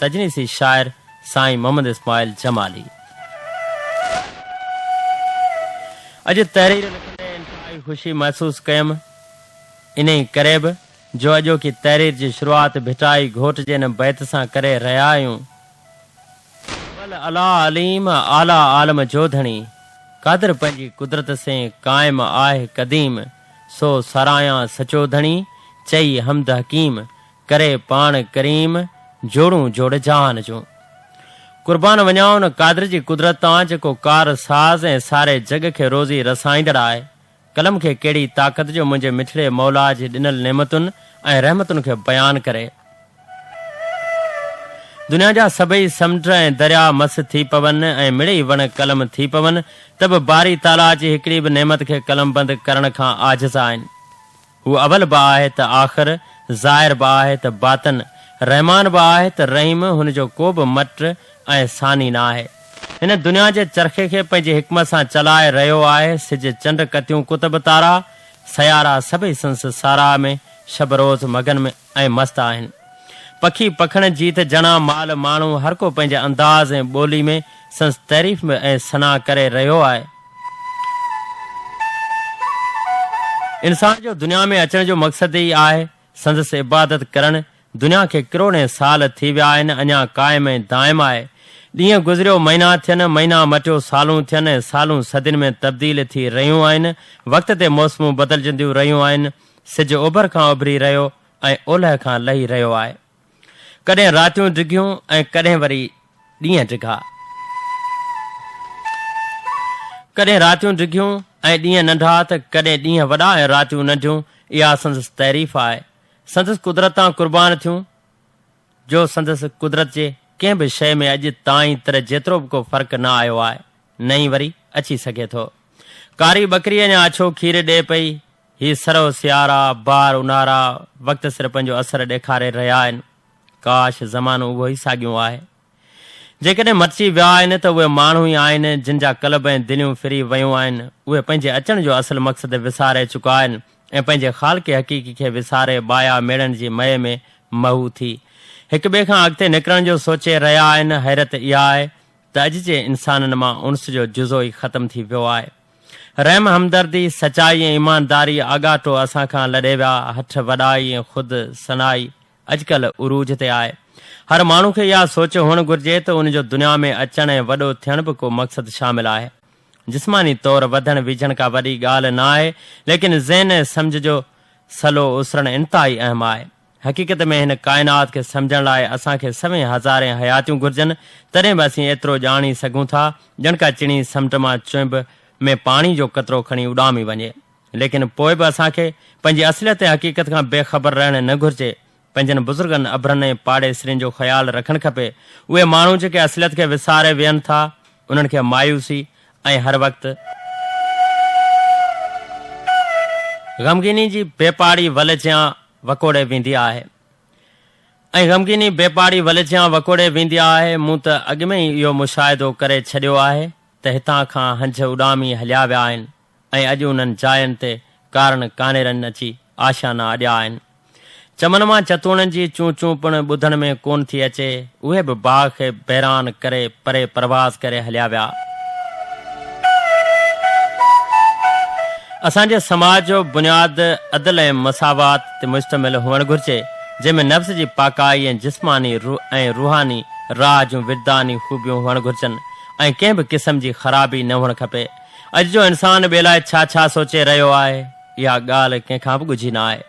تجنيسي شاعر سائين محمد اسماعيل جمالي اڄ تحرير لکندي انتهائي خوشي محسوس ڪيم، انهي ڪري به جو اڄوڪي تحرير جي شروعات ڀٽائي گهوٽ جي ان بيت سان ڪري رهيا آهيون، اول اعليٰ عليم اعليٰ عالم جو ڌڻي، قادر پنهنجي قدرت سين قائم آهه قديم، سو ساراهيان سچو ڌڻي، چئي حمد حڪيم، ڪري پاڻ ڪريم جوڙون جوڙ جهان جون. قربان وڃان ان قادر جي قدرت تان جيڪو ڪار ساز ۽ ساري جڳ کي روزي رسائيندڙ آهي. قلم کي ڪهڙي طاقت جو منهنجي مٺڙي مولا جي ڏنل نعمتن ۽ رحمتن کي بيان ڪري. دنيا جا سڀئي سمنڊ ۽ دريا مس ٿي پون ۽ مڙئي وڻ قلم ٿي پون ته به باري تعاليٰ جي هڪڙي به نعمت کي قلمبند ڪرڻ کان عاجز آهن. هو اول به آهي ته آخر، ظاهر به آهي ته باطن، رحمان به آهي ته رحيم، هن جو ڪو به مٽ ۽ ثاني نه آهي. هن دنيا جي چرخي کي پنهنجي حڪمت سان چلائي رهيو آهي، سج، چنڊ، ڪتيون ڪتب تارا، سيارا سڀئي سنس ساراهه ۾ شب روز مگن ۾. ۽ مست آهن. پکي پکڻ جيت جڻا مال ماڻهو هر ڪو پنهنجي انداز ۽ ٻولي ۾ سنس تعريف ۾ ۽ ثنا ڪري رهيو آهي. انسان جو دنيا ۾ اچڻ جو مقصد ئي آهي سندس عبادت ڪرڻ دنيا کي ڪروڙين سال ٿي ويا آهن اڃا قائم ۽ دائم آهي ڏينهن گذريو مهينا ٿين مهينا مٽيو سالون ٿين ۽ سالون صدين ۾ تبديل ٿي رهيون آهن وقت تي موسمون بدلجنديون رهيون آهن سج اوڀر کان اڀري رهيو ۽ اولهه کان لهي رهيو آهي. ڪڏهن راتيون ڊگهيون ۽ ڪڏهن وري ڏينهن ڊگها. ڪڏهن راتيون ڊگهيون ۽ ڏينهن ننڍا ته ڪڏهن ڏينهن وڏا ۽ راتيون ننڍيون اها سندس تعريف آهي. سندس قدرت تان قربان ٿيون جو سندس قدرت جي ڪنهن به شيء ۾ اڄ تائين تر جيترو به ڪو فرق نه آيو آهي نه ئي وري اچي سگهي ٿو. ڪاري ٻڪري اڃا اڇو کير ڏئي پئي هي سرو سيارا، بار اونهارا، وقت سر پنهنجو اثر ڏيکاري رهيا آهن. ڪاش! زمانو اهو ئي ساڳيون آهي. جيڪڏهن مٽجي ويا آهن ته اهي ماڻهو ئي آهن، جن جا قلب ۽ دليون ڦري ويون آهن. اهي پنهنجي اچڻ جو اصل مقصد وساري چڪا آهن ۽ پنهنجي خالق حقيقي کي وساري بايا ميڙن جي مئي ۾ محو ٿي، هڪ ٻئي کان اڳتي نڪرڻ جو سوچي رهيا آهن. حيرت اها آهي ته اڄ جي انسانن مان انس جو جزو ئي ختم ٿي ويو آهي. رحم همدردي، سچائي ۽ ايمانداري آڳاٽو اسان کان لڏي ويا، هٺ وڏائي ۽ خود ثنائي اڄڪلهه عروج تي آهي. هر ماڻهو کي اها سوچ هئڻ گهرجي ته ان جو دنيا ۾ اچڻ ۽ وڏو ٿيڻ به ڪو مقصد شامل آهي. جسماني طور وڌڻ ويجهڻ ڪا وڏي ڳالهه نه آهي، ليڪن ذهن ۽ سمجهه جو سلو اسرڻ انتهائي اهم آهي. حقيقت ۾ هن ڪائنات کي سمجهڻ لاء اسان کي سوين هزارين حياتيون گهرجن، تڏهن به اسين ايترو ڄاڻي سگهون ٿا، ڄڻ ڪا چڻي سمنڊ مان چونب ۾ پاڻي جو قطرو کڻي اڏامي وڃي. ليڪن پوء به اسان کي پنهنجي اصليت ۽ حقيقت کان بي خبر رهڻ نه گهرجي. پنهنجن بزرگن، ابرن ۽ پاڙيسرين جو خيال رکڻ کپي. اهي ماڻهو جيڪي اصليت کي وساري ويهن ٿا، انهن کي مايوسي ۽ هر وقت. غمگيني جي بي پاڙي ول جيان وڪوڙي ويندي آهي ۽ غمگيني بي پاڙي ولجيان وڪوڙي ويندي آهي. مون ته اڳ ۾ ئي اهو مشاهدو ڪري ڇڏيو آهي ته هتان کان هنج اڏامي هليا ويا آهن ۽ اڄ انهن جاين تي ڪارڻ ڪانئرن اچي آشيانا اڏيا آهن. چمن مان چتوڻن جي چون چون پڻ ٻڌڻ ۾ ڪونه ٿي اچي. اهي به باغ کي بيران ڪري پري پرواز ڪري هليا ويا. اسان جي سماج جو بنياد عدل ۽ مساوات تي مشتمل هئڻ گهرجي، جنهن ۾ نفس جي پاڪائي ۽ جسماني ۽ روحاني راهه جون وجداني خوبيون هئڻ گهرجن ۽ ڪنهن به قسم جي خرابي نه هئڻ کپي. اڄ جو انسان ٻئي لاء ڇا ڇا سوچي رهيو آهي، اها ڳالهه ڪنهن کان به ڳجهي نه آهي.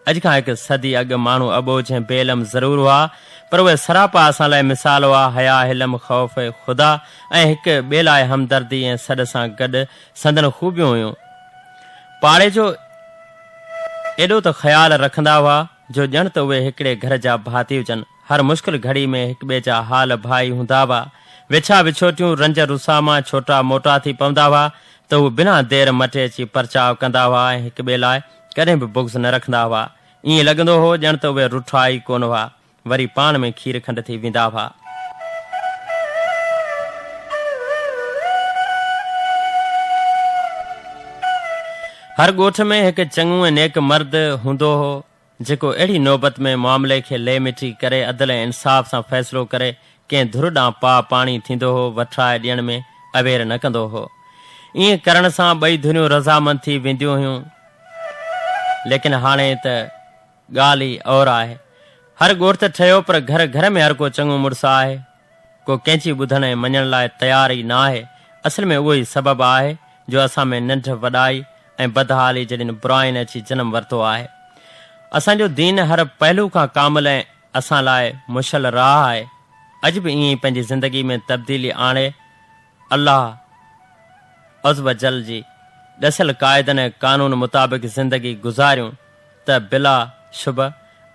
اڄ کان هڪ صدي اڳ ماڻهو اٻوجهه ۽ بي علم ضرور هئا، پر اهي سراپا اسان لاء مثال هئا، حياء، حلم، خوف خدا ۽ هڪ ٻئي لاء همدردي ۽ سڏ سان گڏ سندن خوبيون هيون. پاڙيجو ايڏو ته خيال رکندا هئا، جو ڄڻ ته اهي هڪڙي گهر جا ڀاتي هجن. هر مشڪل گهڙي ۾ هڪ ٻئي جا حال ڀائي هوندا هئا. وڇا وڇوٽيون، رنج رساء مان ڇوٽا موٽا ٿي پوندا هئا، ته هو بنا دير مٽي اچي پرچاء ڪندا هئا ۽ هڪ ٻئي لاء ڪڏهن به بغض نه رکندا هئا. ائين لڳندو هو ڄڻ ته اهي رٺا ئي ڪونه هئا. وري پاڻ ۾ کير کنڊ ٿي ويندا هئا. هر ڳوٺ ۾ هڪ چڱو ۽ نيڪ مرد هوندو هو، جيڪو اهڙي نوبت ۾ معاملي کي لي مٽي ڪري عدل ۽ انصاف سان فيصلو ڪري ڪنهن ڌر ڏانهن پاء پاڻي ٿيندو هو، وٺرائي ڏيڻ ۾ اوير نه ڪندو هو. ائين ڪرڻ سان ٻئي ڌريون رضامند ٿي وينديون هيون. ليڪن هاڻي ته ڳالهه ئي اور آهي. هر ڳوٺ ٺهيو پر گهر گهر ۾ هرڪو چڱو مڙس آهي. ڪو ڪنهن جي ٻڌڻ ۽ مڃڻ لاء تيار ئي ناهي. اصل ۾ اهو ئي سبب آهي جو اسان ۾ ننڍ وڏائي ۽ بدحالي جهڙين براين اچي جنم ورتو آهي. اسان جو دين هر پهلو کان ڪامل ۽ اسان لاء مشعل راهه آهي. اڄ به ائين ئي پنهنجي زندگي ۾ تبديلي آڻي الله عزّوجلّ جي ڏسيل قاعدن ۽ قانون مطابق زندگي گذاريون ته بلا شبه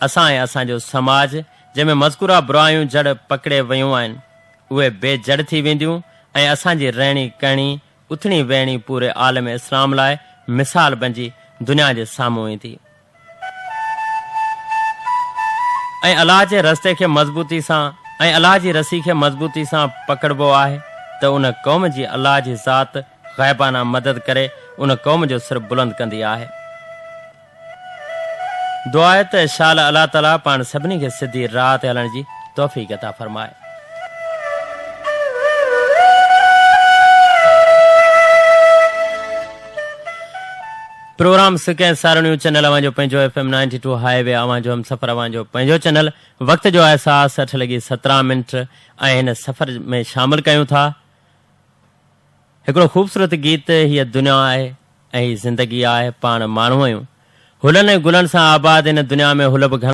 اسان ۽ اسان جو سماج جنهن ۾ مذڪوره برايون جڙ پڪڙي ويون آهن اهي بي جڙ ٿي وينديون ۽ اسان جي رهڻي ڪهڻي اٿڻي ويهڻي پوري عالم اسلام لاء مثال بنجي دنيا جي سامهون ايندي ۽ الله جي رستي کي مضبوطي سان ۽ الله جي رسي کي مضبوطي سان پڪڙبو آهي ته ان قوم جي الله جي ذات غائبانه مدد ڪري ان قوم جو سر بلند ڪندي آهي. دعا آهي ته شال الله تعالي پاڻ سڀني کي سڌي راهه تي هلڻ جي توفيق عطا فرمائي. پروگرام سڪ ۽ سارڻيون چينل اوهان جو پنهنجو F M ninety two highway اوهان جو همسفر اوهان جو پنهنجو چينل وقت جو احساس اٺ لڳي سترهن منٽ ۽ هن سفر ۾ شامل ڪيون ٿا هڪڙو خوبصورت گيت هيء دنيا آهي ۽ هي زندگي آهي پاڻ ماڻهو آهيون هلن ۽ گلن سان آباد ان دنيا ۾ هل به گهڻا.